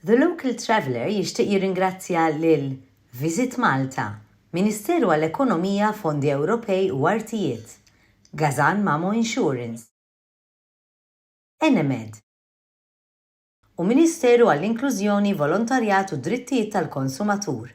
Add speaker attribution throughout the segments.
Speaker 1: The Local Traveller jixtieq jirringrazzja lil Visit Malta, Ministeru għall-Ekonomija, Fondi Ewropej u Artijiet, Gazan Mamo Insurance, Enemed, u Ministeru għall-Inklużjoni, Volontarjat u d-Drittijiet tal-Konsumatur.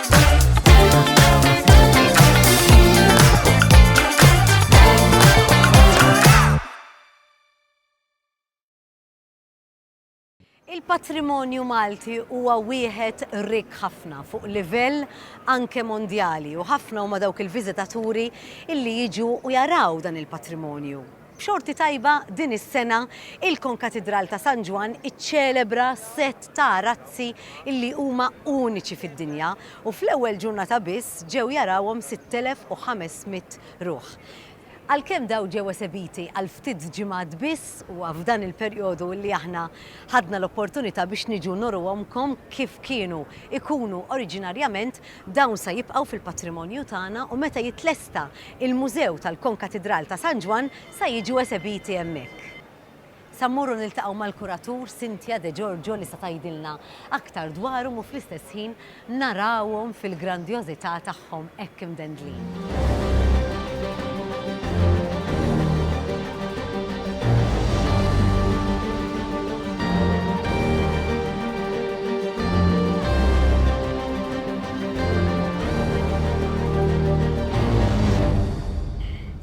Speaker 2: Il-patrimonju Malti huwa wieħed rik ħafna fuq livell anke mondjali u ħafna huma dawk il-viżitaturi illi jiġu u jaraw dan il-patrimonju. B'xorti tajba, din is-sena, il-Konkatidral ta' San Ġwann iċċelebra sett ta' razzi li huma uniċi fid-dinja u fl-ewwel ġurnata biss ġew jarawhom 6,500 ruħ. Għalkemm dawn ġew esebiti għal ftit ġimgħat biss, huwa f'dan il-perjodu li aħna ħadna l-opportunità biex niġu nuruhomkom kif kienu jkunu oriġinarjament, Dawn sa jibqgħu fil-patrimonju tagħna u meta jitlesta il-Mużew tal-Konkatidral ta' San Ġwann sa jiġu esebiti hemmhekk. Sa mmorru niltaqgħu mal-kuratur Cynthia De Giorgio li sa tgħidilna aktar dwarhom u fl-istess ħin narawhom fil-grandjożità tagħhom hekk imdendlin.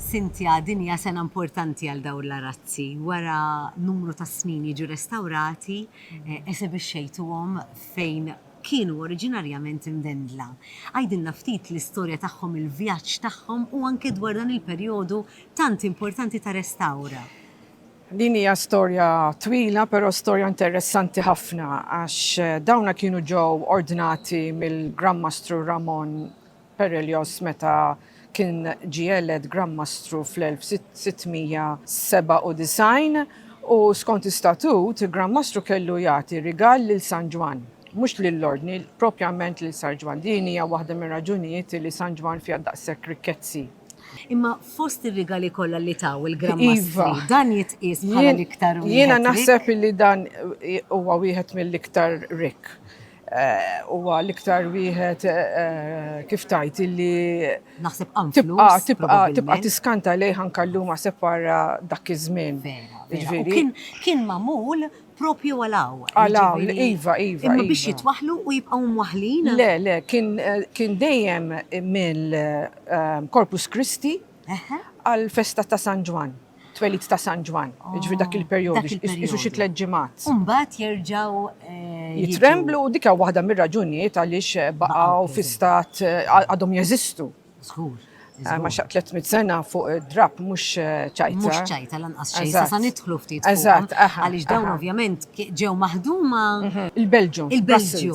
Speaker 2: Cynthia, din hija sena importanti għal dawn l-arazzi. Wara numru ta' snin jiġu restawrati, esebixxejtuhom fejn kienu oriġinarjament imdendla. Għidilna ftit l-istorja tagħhom, il-vjaġġ tagħhom u anke dwar dan il-perjodu tant importanti ta' restawr. Din
Speaker 3: hija storja twila però storja interessanti ħafna għax dawna kienu ġew ordnati mill-Gran Mastru Ramon Perellos meta kien ġie elett Gran Mastru fl-1697 u skont istatut il-Gran Mastru kellu jagħti rigal lil San Ġwann, mhux lill-Ordni, propjament lil San Ġwann. Din hija waħda mir-raġunijiet li San Ġwann fiha daqshekk rikkezzi. Imma
Speaker 2: fost ir-rigali kollha li taw il-Gran Mastri, dan jitqies bħala l-iktar wieħed rikk? Jiena naħseb li
Speaker 3: dan huwa wieħed mill-iktar rikk. huwa l-iktar wieħed kif tajt illi naħseb tibqa'
Speaker 2: tibqa' tibqa' tiskanta
Speaker 3: lejh anke llum għaseb wara dak iż-żmien. Jiġifieri
Speaker 2: kien magħmul propju għal hawn. Għal hawn, iva,
Speaker 3: iva. Imma biex iva. jitwaħlu
Speaker 2: u jibqgħu mwaħlin? Le, le,
Speaker 3: kien dejjem mill-Corpus Christi għall-festa ta' San Ġwann, twelid ta' San Ġwann, jiġifieri dak il-perjodu, qisu xi tliet ġimgħat. U mbagħad jerġgħu
Speaker 2: jiġu. Jitremblu
Speaker 3: u dik hija waħda mir-raġunijiet għaliex baqgħu fi stat għadhom jeżistu. Żgur.
Speaker 2: Għax xaqt 300
Speaker 3: sena fuq id-drapp mhux ċajta. Mhux
Speaker 2: ċajta lanqas xejn, sa nidħlu ftit fuqhom. Eżatt. Għaliex dawn ovvjament ġew maħduma. Il-Belġju.
Speaker 3: Il-Belġju.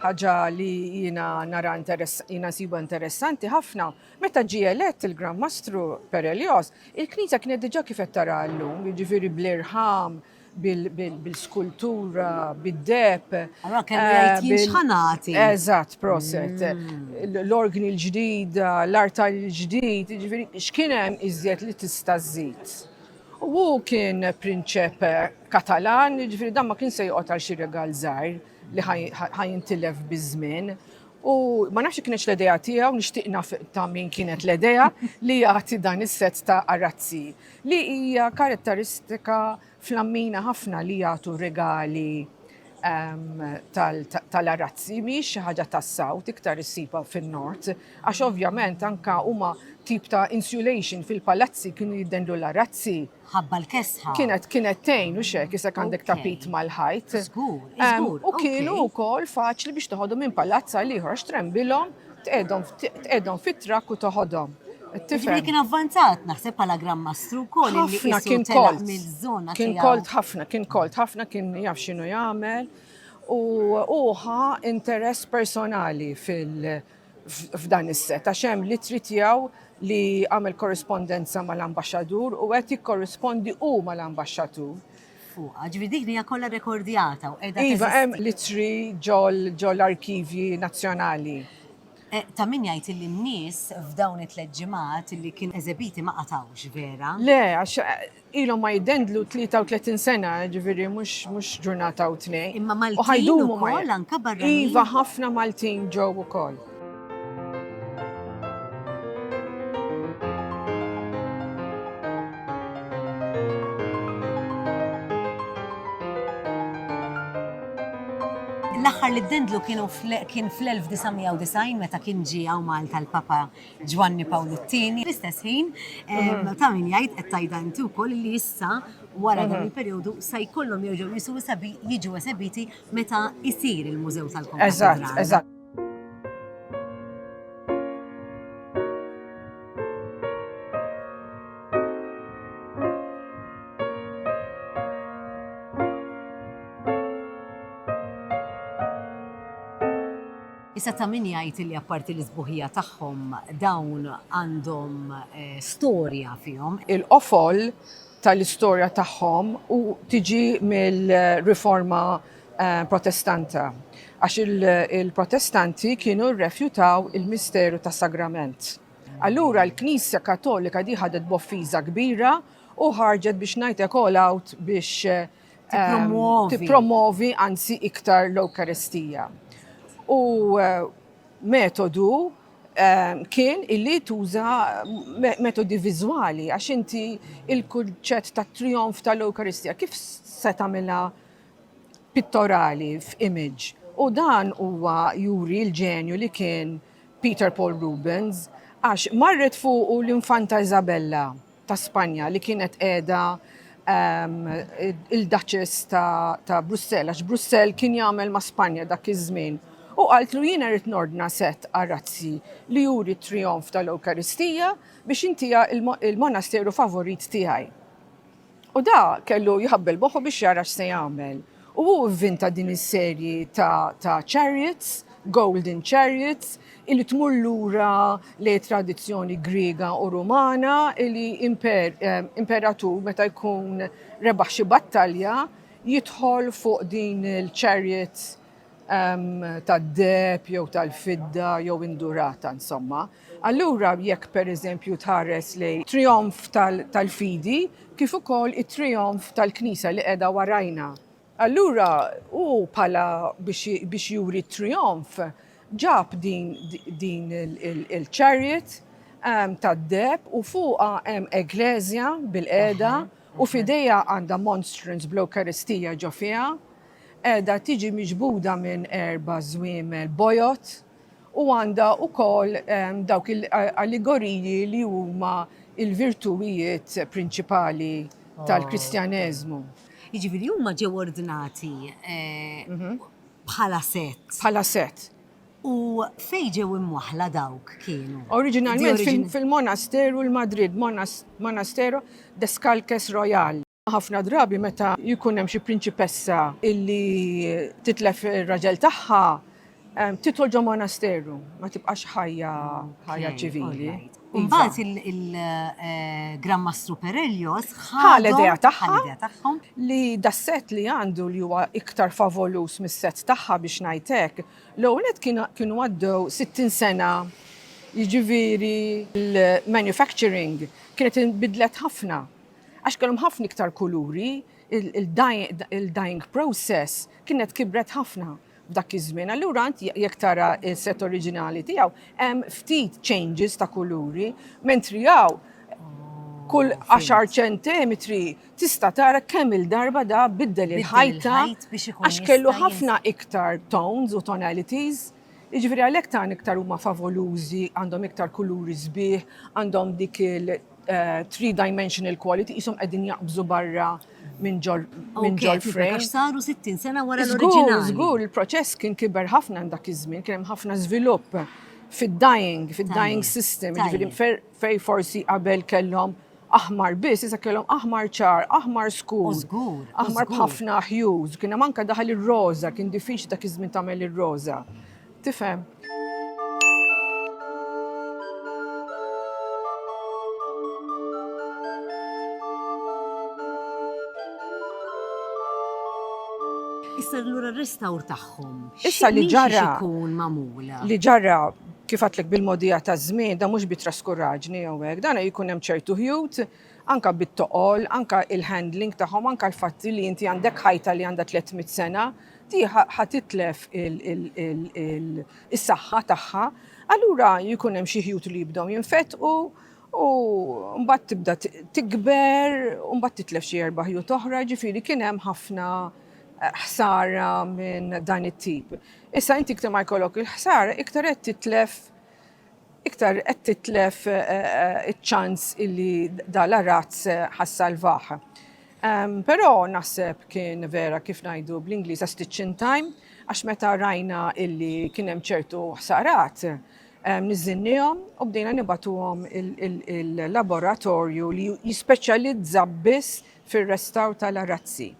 Speaker 3: Ħaġa li jiena nara jiena nsibha interessanti ħafna, meta ġie elett il-Gran Mastru Per Elios, il-knisja kienet diġà kif qed taraha llum, jiġifieri bl-irħam, bil-skultura, bid-deheb. Allura
Speaker 2: kellu eh, jgħid jien x'ħanati. Eżatt, proset.
Speaker 3: Mm. L-organi l-ġdida, l-artal l-ġdid, jiġifieri x'kien hemm iżjed li tista' żżid. U hu kien prinċep Katalan, jiġifieri dan ma kien se joqgħod għal xi regal żgħir li ħa jintilef biż-żmien. U ma nafx kienx l-idea tiegħu, nixtieq naf ta' min kienet l-idea li jagħti dan is-sett ta' arazzi li hija karatteristika flammina ħafna li jagħtu regali tal-arazzi mhijiex xi ħaġa tas-South, iktar issibha fin-North, għax ovvjament anke huma tip ta' insulation fil-palazzi kienu jiddendlu l-arazzi. Ħabba l-kesħa.
Speaker 2: Kienet kienet tgħin
Speaker 3: u xek isek għandek tapit mal-ħajt. Żgur, żgur.
Speaker 2: U kienu wkoll
Speaker 3: faċli biex toħodhom minn palazz għal ieħor għax trembilhom tqegħdhom fit-trakk u toħodhom. Tifhem? Kien
Speaker 2: avvanzat naħseb bħala Gran Mastru wkoll li kien kolt mill-żona. Kien
Speaker 3: kolt
Speaker 2: ħafna,
Speaker 3: kien
Speaker 2: kolt ħafna,
Speaker 3: kien jaf x'inhu jagħmel u uħa interess personali f'dan is-set għax hemm li trid jew li għamel korrispondenza mal-ambaxxadur u qed jikkorrispondi hu mal-ambaxxatur. fuqha,
Speaker 2: ġifieri dik li hija kollha rrekordjata u qiegħda teżisti. Iva, hemm l-ittri
Speaker 3: ġol-arkivji nazzjonali. Ta'
Speaker 2: min jgħid illi n-nies f'dawn it-tliet ġimgħat illi kienu eżebiti ma qatgħux, vera? Le, għax
Speaker 3: ilhom ma jiddendlu 33 sena, ġifieri mhux ġurnata u tnejn. Imma Maltin
Speaker 2: ukoll, anke barranin? Iva, ħafna Maltin
Speaker 3: ġew ukoll.
Speaker 2: L-aħħar li ddendlu kienu kien fl-1990 meta kien ġie hawn Malta l-Papa Ġwanni Pawlu t-tieni. L-istess ħin mm. ta' min jgħid qed tajda inti wkoll li issa wara dan mm-hmm. il-perjodu se jkollhom jerġgħu jisu jiġu esebiti meta jsir il-Mużew tal-Komunità. Eżatt, eżatt. Issa ta' min jgħid li apparti l-isbuħija tagħhom dawn għandhom eh, storja fihom. Il-qofol
Speaker 3: tal-istorja tagħhom u tiġi mill-riforma Protestanta, għax il-Protestanti kienu rrefjutaw il-misteru tas-Sagrament. Allura l-Knisja Kattolika di ħadet b'offiża kbira u ħarġet biex ngħid hekk all out biex tippromwovi anzi iktar l-Ewkaristija. U metodu kien illi tuża metodi viżwali għax inti il-kunċett tat-trijonf tal-Ewkaristija kif se tagħmilha pittorali f'image u dan huwa juri l-ġenju li kien Peter Paul Rubens għax marret fuqu l-Infanta Isabella ta' Spanja li kienet qiegħda il-Duchess ta' Brussell għax Brussell kien jagħmel ma' Spanja dak iż-żmien u qaltlu jiena rrid nordna sett arazzi li juri t-trijonf tal-Ewkaristija biex intiha il-monasteru favorit tiegħi. U da kellu jħabbel moħħu biex jara x'se jagħmel. U hu vvinta din is-serji ta' chariots, golden chariots, illi tmur lura lejn it-tradizzjoni Griega u Rumana illi imperatur meta jkun rebaħ xi battalja jidħol fuq din il-chariot tad-deheb jew tal-fidda jew indurata insomma. Allura jekk pereżempju tħares lejn trijonf tal-fidi kif ukoll it-trijonf tal-Knisja li qiegħda warajna, allura hu bħala biex juri t-trijonf ġab din il-chariot tad-deheb u fuqha hemm Ekkleżja bilqiegħda u f'idejha għandha monstrance bl-Ewkaristija ġo fiha, Qiegħda tiġi miġbuda minn erba' żwiemel bojod u għandha wkoll dawk il-allegoriji li huma l-virtuwijiet prinċipali tal-Kristjaneżmu. Jiġifieri
Speaker 2: huma ġew ordnati bħala sett. Bħala sett.
Speaker 3: U
Speaker 2: fejn ġew imwaħħla dawk kienu? Oriġinalment
Speaker 3: fil-monasteru l-Madrid, Monastero Descalques Royal. Ħafna drabi meta jkun hemm xi prinċipessa illi titlef ir-raġel tagħha, tidħol ġo monasteru, ma tibqax ħajja ħajja ċivili. U mbagħad
Speaker 2: il-Gran Mastru Perelios ħa l-idea
Speaker 3: tagħha li das-set li għandu li huwa iktar favolus mis-set tagħha biex ngħid hekk, l-ewwel nett kienu għaddew 60 sena jiġifieri l-manufacturing kienet inbidlet ħafna. Għax kellhom ħafna iktar kuluri, il-dyeing process kienet kibret ħafna f'dak iż-żmien. Allura int jekk tara s-set oriġinali tiegħu hemm ftit changes ta' kuluri, mentri hawn kull għaxar ċentimetri tista' tara kemm il-darba da biddel il-ħajta għax kellu ħafna iktar tones u tonalities. Jiġifieri għalhekk tant iktar huma favolużi, għandhom iktar kuluri sbieħ, għandhom dik il- three dimensional quality, qishom qegħdin jaqbżu barra minn ġol minn ġol frame. Saru 60
Speaker 2: sena wara l-oriġinal. Żgur, il-proċess
Speaker 3: kien kiber ħafna dak iż-żmien, kien hemm ħafna żvilupp fid-dying, fid-dying system, ġifieri fej forsi qabel kellhom aħmar biss, issa kellhom aħmar ċar, aħmar skur. Żgur. Aħmar b'ħafna hues, kien hemm anke daħal ir-roża, kien diffiċli dak iż-żmien tagħmel ir-roża. Tifhem?
Speaker 2: Issa allura r-restawr tagħhom. Issa li ġara.
Speaker 3: Ikun magħmula.
Speaker 2: Li ġara
Speaker 3: kif għatlek bil-modija ta' żmien, da mhux bi traskurraġni jew hekk, dan jkun hemm ċertu ħjut Anke bit-toqol, anke il-handling tagħhom, anke l-fatti li inti għandek ħajta li għandha tliet mitt sena, di ħa titlef is-saħħa tagħha. Allura jkun hemm xi ħjut li jibdew jinfetqu u mbagħad tibda tikber u mbagħad titlef xi erba' ħjut oħra, jiġifieri kien hemm ħafna ħsara minn dan it-tip. Issa inti iktar ma jkollok il-ħsara, iktar qed titlef iktar qed titlef iċ-ċans illi da l-arazz ħa ssalvah. Però naħseb kien vera kif ngħidu bl-Ingliż a stitch in time għax meta rajna illi kien hemm ċertu ħsarat niżżinniehom u bdejna nibagħtuhom il-laboratorju li jispeċjalizza biss fir-restawr tal-arazzi.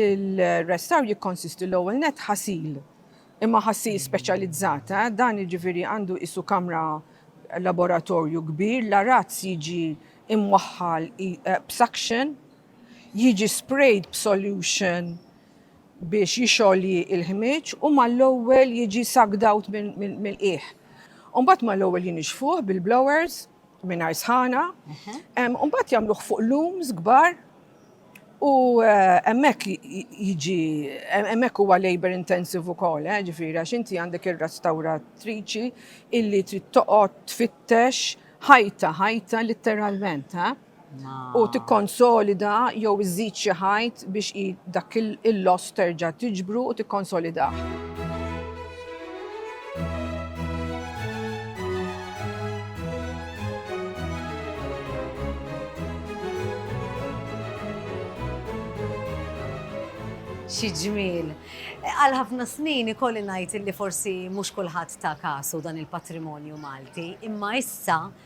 Speaker 3: Il-restawr jikkonsisti l-ewwel nett ħasil Imma ħassir speċjalizzat, eh? Dan jiġifieri għandu qisu kamra laboratorju kbir, l-arazz jiġi imwaħħal b'suction, jiġi sprayed b'solution biex jixgħoli l-ħmieġ u mal-ewwel jiġi sucked out mill-qiegħ. U mbagħad mal-ewwel jinixfuh bil-blowers mingħajr sħana, u mbagħad jagħmluh fuq looms kbar, U hemmhekk jiġi hemmhekk huwa labor intensive ukoll, eh, ġifieri għax inti għandek ir-restawratriċi illi trid toqgħod tfittex ħajta ħajta litteralment, ha? U tikkonsolida jew iżid xi ħajt biex dak il-loss terġa' tiġbru u tikkonsolidah.
Speaker 2: Xi ġmiel! Għal ħafna snin ikolli ngħid li forsi mhux kulħadd ta kasu dan il-patrimonju Malti, imma issa